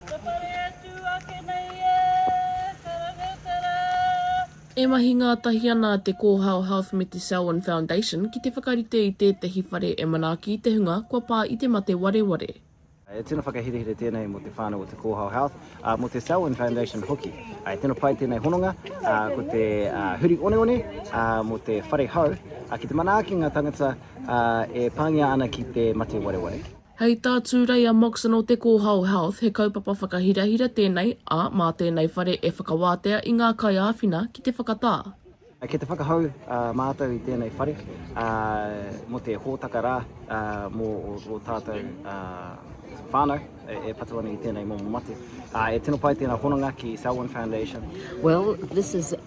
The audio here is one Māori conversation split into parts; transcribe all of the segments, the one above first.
Ka whare atu ake nei e Karangatara. E mahi ngātahi ana te Kōhao Health me te Selwyn Foundation ki te whakarite i tētahi whare e manaaki i te hunga kua pā i te mate wareware. He tino whakaherehere tēnei mō te whānau o te Kōhao Health, ā, mō te Selwyn Foundation hoki. He tino pai tēnei hononga, ā, ko te huri oneone, ā, mō te whare hou, ā, ki te manaaki ngā tāngata, ā, e pāngia ana ki te mate wareware. Hei tā Tūreia Moxon o Te Kōhao Health, he kaupapa whakahirahira tēnei, ā, mā tēnei whare e whakawātea i ngā kaiāwhina ki te whakatā. Kei te whakahou mātou i tēnei whare mō te hōtaka rā mō ō tātou whānau e patu ana i tēnei momo mate. E tino pai tēnā hononga ki Selwyn Foundation.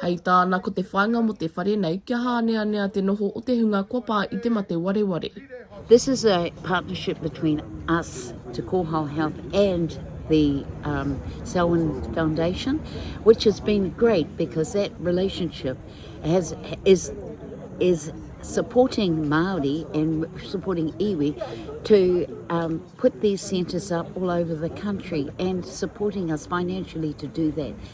Hei tāna ko te whāinga mō te whare nei kia hāneanea te noho o te hunga kua pā i te mate wareware. This is a partnership between us, Te Kōhao Health and the um, Selwyn Foundation, which has been great because that relationship has is is supporting Maori and supporting iwi to um, put these centres up all over the country and supporting us financially to do that.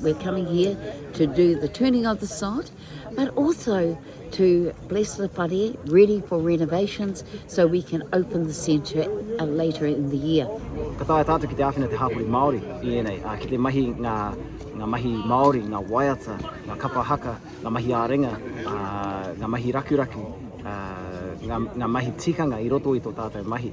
We're coming here to do the turning of the sod, but also to bless the whare, ready for renovations, so we can open the centre uh, later in the year. Ka tae tātou ki te āwhina te hāpori Māori i ēnei, uh, ki te mahi ngā, ngā mahi Māori, ngā waiata, ngā kapa haka, ngā mahi ārenga, uh, ngā mahi rakuraku, uh, ngā, ngā mahi tikanga i roto i tō tātou mahi.